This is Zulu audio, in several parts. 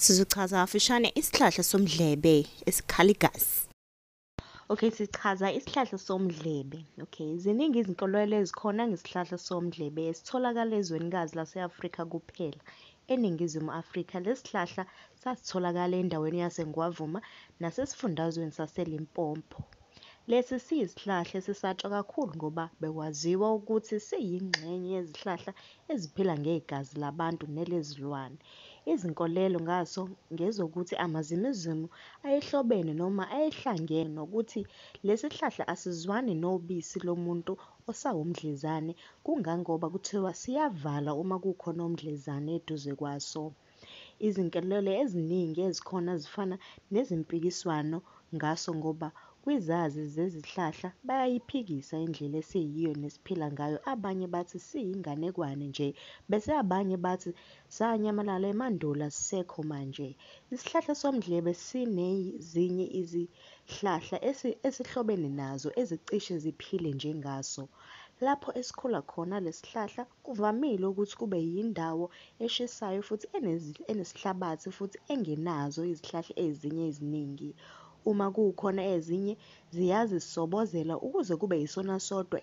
Sizochaza kafishane isihlahla somdlebe esikhala igazi. Okay, sichaza isihlahla somdlebe. Okay, ziningi izinkolelo ezikhona ngesihlahla somdlebe esitholakala ezwenikazi lase-Afrika kuphela. ENingizimu Afrika, lesi sihlahla sasitholakala endaweni yaseNgwavuma nasesifundazweni saseLimpopo. Lesi siyisihlahla esisatshwa kakhulu ngoba bekwaziwa ukuthi siyingxenye yezihlahla eziphila ngegazi labantu nelezilwane. Izinkolelo ngaso ngezokuthi amazimuzimu ayehlobene noma ayehlangene nokuthi lesihlahla asizwani nobisi lomuntu osawumdlezane kungangoba kuthiwa siyavala uma kukhona umdlezane eduze kwaso. Izinkelelo eziningi ezikhona zifana nezimpikiswano ngaso ngoba kwizazi zezihlahla bayayiphikisa indlela esiyiyo nesiphila ngayo abanye bathi siyinganekwane nje bese abanye bathi sanyamalala emandulo asisekho manje. Isihlahla somdlebe sinezinye izihlahla esihlobene nazo ezicishe ziphile njengaso. Lapho esikhula khona lesihlahla Kuvamile ukuthi kube yindawo eshisayo futhi enesihlabathi futhi engenazo izihlahla ezinye eziningi. Uma kukhona ezinye, ziyazisobozela ukuze kube yisona sodwa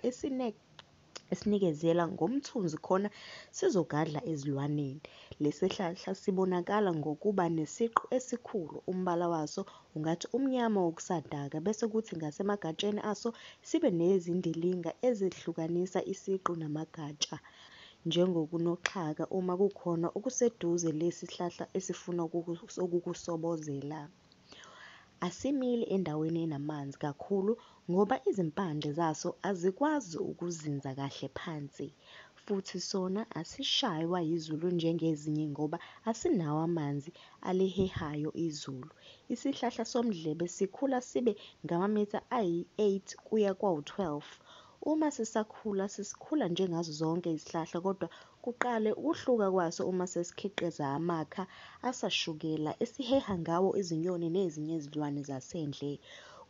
esinikezela ngomthunzi khona sizogadla ezilwaneni. Lesihlahla sibonakala ngokuba nesiqu esikhulu, umbala waso Ungathi umnyama wokusadaka bese kuthi ngasemagatsheni aso sibe nezindilinga ezehlukanisa isiqu namagatsha njengokunoxhaka uma kukhona okuseduze lesi hlahla esifuna ukukusobozela. Asimili endaweni enamanzi kakhulu Ngoba izimpande zaso azikwazi ukuzinza kahle phansi, futhi sona asishaywa yizulu njengezinye ngoba asinawo amanzi alihehayo izulu. Isihlahla somdlebe sikhula sibe ngamamitha ayi-8 kuya kwawu-12. Uma sisakhula sesikhula njengazo zonke izihlahla kodwa Kuqale ukuhluka kwaso uma sesikhiqiza amakha asashukela esiheha ngawo izinyoni nezinye izilwane zasendle.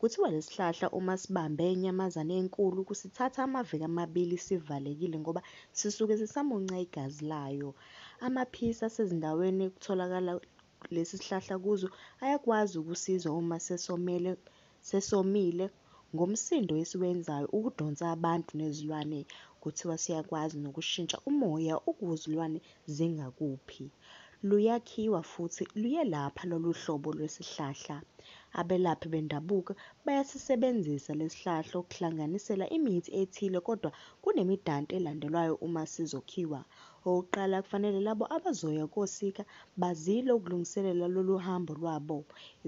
Kuthiwa lesihlahla uma sibambe inyamazane enkulu kusithatha amaviki amabili sivalekile ngoba sisuke sisamunca igazi layo. Amaphisi asezindaweni ekutholakala lesi sihlahla kuzo ayakwazi ukusizwa uma sesomele sesomile ngomsindo esiwenzayo ukudonsa abantu nezilwane kuthiwa siyakwazi nokushintsha umoya ukuzilwane zingakuphi luyakhiwa futhi luyelapha loluhlobo lwesihlahla abelaphi bendabuko bayasisebenzisa lesihlahla ukuhlanganisela imithi ethile kodwa kunemidanti elandelwayo uma sizokhiwa Okokuqala, kufanele labo abazoya kosika bazile ukulungiselela lolu hambo lwabo.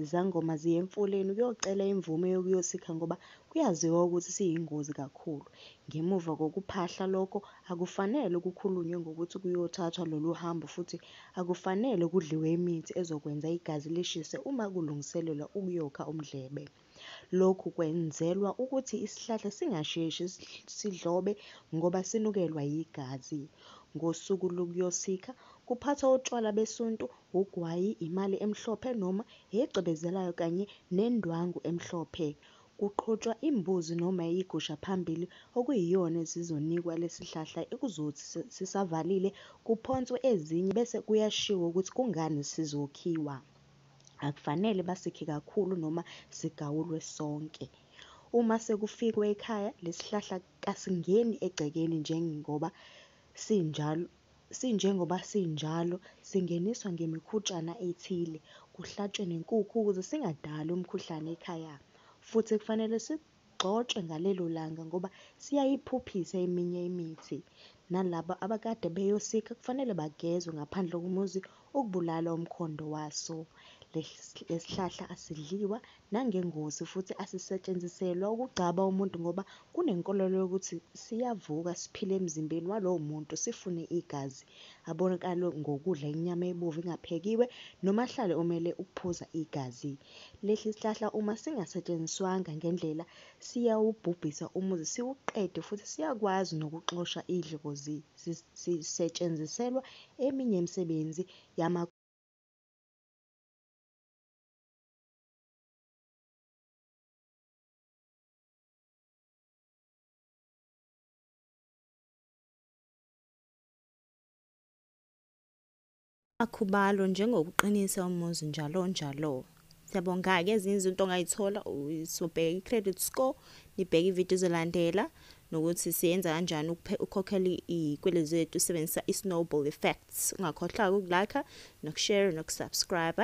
Izangoma ziya emfuleni ukuyocela imvume yokuyosika ngoba kuyaziwa ukuthi siyingozi kakhulu. Ngemuva kokuphahla lokho, akufanele kukhulunywe ngokuthi kuyothathwa lolu hambo futhi akufanele kudliwe imithi ezokwenza igazi lishise uma kulungiselelwa ukuyokha umdlebe. Lokhu kwenzelwa ukuthi isihlahla singasheshi sidlobe ngoba sinukelwa yigazi. Ngosuku lokuyosikha, kuphathwa utshwala besuntu, ugwayi, imali emhlophe noma egcwebezelayo kanye nendwangu emhlophe. Kuqhutshwa imbuzi noma igusha phambili okuyiyona esizonikwa lesihlahla ekuzothi sisavalile kuphonswe ezinye bese kuyashiwo ukuthi kungani sizokhiwa. akufanele basikhe kakhulu noma sigawulwe sonke. Uma sekufikwe ekhaya, lesihlahla kasingeni egcekeni njengoba sinjalo sinjengoba sinjalo singeniswa ngemikhutshana ethile, kuhlatshwe nenkukhu ukuze singadali umkhuhlane ekhaya futhi kufanele si. bagcotshwe ngalelo langa ngoba siyayiphuphisa eminye imithi. Nalabo abakade beyosika kufanele bagezwe ngaphandle komuzi ukubulala umkhondo waso. Lesihlahla asidliwa nangengozi futhi asisetshenziselwa ukugcaba umuntu ngoba kunenkolelo yokuthi siyavuka siphile emzimbeni walowo muntu sifune igazi, abonakale ngokudla inyama ebovu engaphekiwe noma ahlale omele ukuphuza igazi. Lesi sihlahla uma singasetshenziswanga ngendlela siyawubhubhisa umuzi siwuqede futhi siyakwazi nokuxosha idlozi. Sisetshenziselwa eminye imisebenzi yama. Akhubalo njengokuqinisa umuzi njalo njalo. Siyabonga-ke ezinye izinto ongayithola sobheka i-credit score nibheke ividiyo ezolandela nokuthi siyenza kanjani ukukhokhela iy'kweletu zethu usebenzisa i-snowball effects ungakhohlwa-ke ukulakha nokushare nokusubscribe